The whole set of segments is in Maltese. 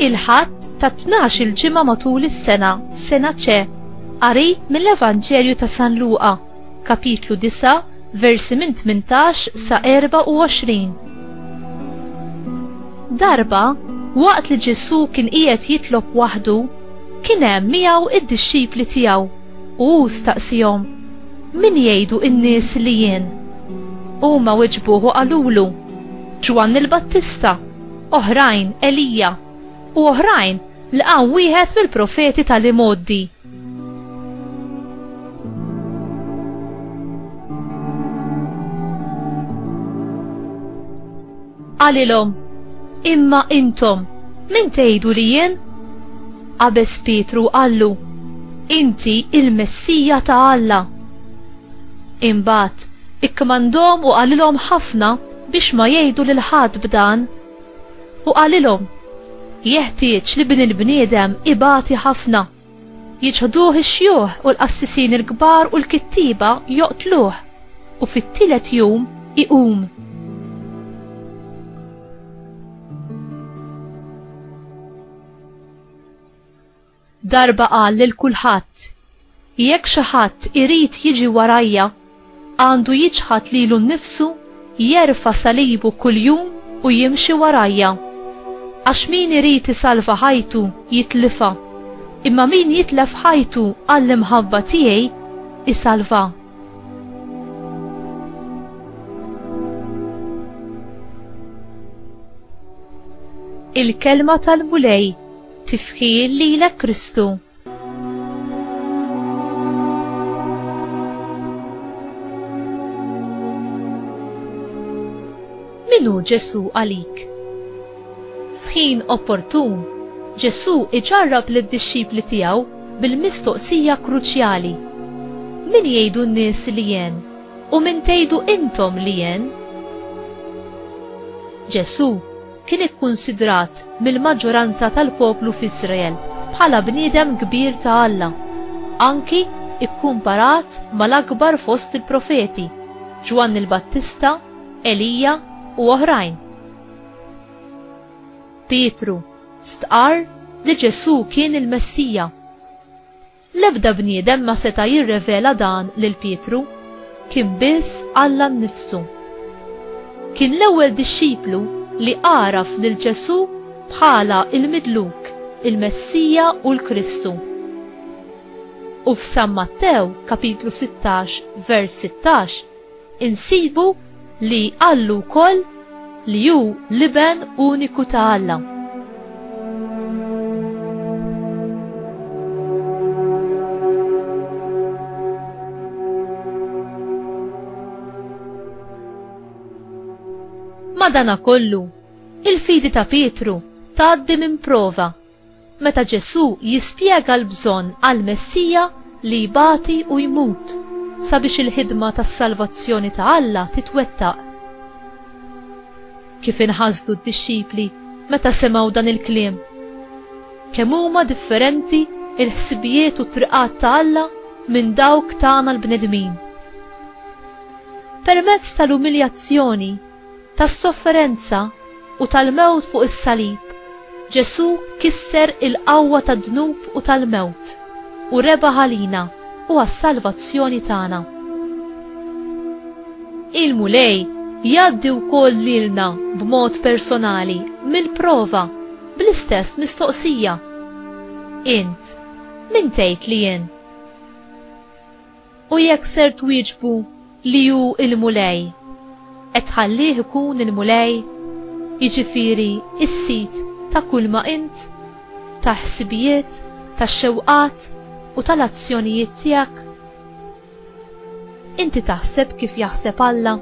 il-ħadd ta' 12 il-ġimgħa matul is-sena, sena ċe, qari mill-Evanġelju ta' San Luqa. Kapitlu 9, versi minn 18 sa 24. Darba, waqt li Ġesu kien qiegħed jitlob waħdu, kien hemm miegħu id-dixxipli tiegħu u hu staqsihom, Min jgħidu n-nies li jien? Huma weġbuh u qalulu, Ġwanni l-Battista, oħrajn Elija, u oħrajn li qam wieħed mill-profeti tal-imgħoddi. Qalilhom, Imma intom, min tgħidu li jien? Qabes Pietru qallu, Inti il-Messija ta' Alla. Imbagħad ikkmandhom u qalilhom ħafna biex ma jgħidu lil ħadd b'dan. U qalilhom, Jeħtieġ li Bin il-bniedem ibati ħafna. Jiċħduh ix-xjuħ u l-qassisin il-kbar u l-kittieba joqtluh, u fit-tielet jum iqum. Darba qal lil kulħadd, Jekk xi ħadd irid jiġi warajja, għandu jiċħad lilu nnifsu, jerfa' salibu kuljum u jimxi warajja. Għax min irid isalva ħajtu, jitlifha, imma min jitlef ħajtu għall-imħabba tiegħi, isalvha. Il-Kelma tal-Mulej. Tifħir lilek Kristu. Minu Ġesu għalik? F'ħin opportun, Ġesu iġarrab lid-dixxipli tiegħu bil-mistoqsija kruċjali, Min jgħidu n-nies li jien, u min tgħidu intom li jien? Ġesu kien ikkunsidrat mill-maġġoranza tal-poplu f'Iżrael bħala bniedem kbir ta' Alla, anki kkumparat mal-akbar fost il-profeti, Ġwanni l-Battista, Elija, u oħrajn. Pietru stqarr li Ġesù kien il-Messija. L-ebda bniedem ma seta' jirrevela dan lil Pietru, kien biss Alla nnifsu. Kien l-ewwel dixxiplu li għaraf lil Ġesù bħala l-Midluk, il-Messija u l-Kristu. U f'San Mattew, kapitlu sittax, vers sittax, insibu li qallu wkoll li hu l-Iben uniku ta' Alla. Madanakollu, il-fidi ta' Pietru tgħaddi minn prova Meta Ġesù jispjega l-bżonn għal Messija li jbati u jmut sabiex il-ħidma tas-salvazzjoni ta' Alla titwettaq. Kif inħasdu d-dixxipli meta semgħu dan il-kliem? Kemm huma differenti l-ħsibijiet u t-triqat ta' Alla minn dawk tagħna l-bnedmin! Permezz tal-umiljazzjoni, tas-sofferenza u tal-mewt fuq is-salib, Ġesù kisser il-qawwa tad-dnub u tal-mewt, u rebaħ għalina u għas-salvazzjoni tagħna. Il-Mulej jgħaddi wkoll lilna b'mod personali mill-prova bl-istess mistoqsija, Int, min tgħid li jien? U jekk ser twieġbu li hu l-Mulej, qed tħallih ikun il-Mulej, jiġifieri s-sid ta' kulma int, tal-ħsibijiet, tax-xewqat u tal-azzjonijiet tiegħek. Inti taħseb kif jaħseb Alla?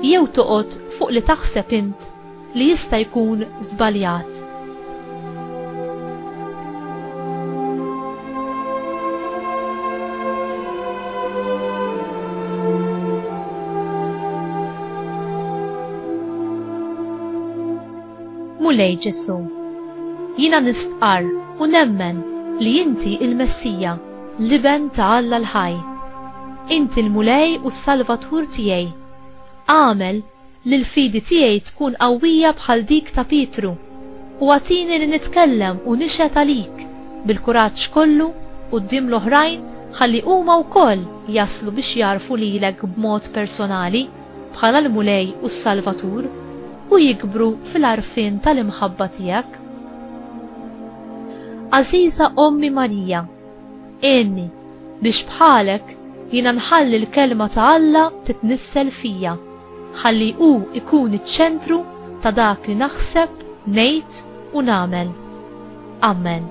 Jew toqgħod fuq li taħseb int li jista' jkun żbaljat. Mulej Ġesu, jiena nistqar u nemmen li inti il-Messija, l-Iben ta' Alla l-ħaj. Inti l-Mulej u s-Salvatur tiegħi. Agħmel Li l-fidi tiegħi tkun qawwija bħal dik ta' Pietru, u agħtini li nitkellem u nixhed għalik bil-kuraġġ kollu quddiem l-oħrajn ħalli huma wkoll jaslu biex jagħrfu lilek b'mod personali bħala l-Mulej u s-Salvatur u jikbru fil-għarfien tal-imħabba tiegħek. Għażiża Ommi Marija, Għinni biex bħalek jiena nħalli l-kelma ta' Alla titnissel fija. Ħalli hu jkun iċ-ċentru ta' dak li naħseb, ngħid u nagħmel. Ammen.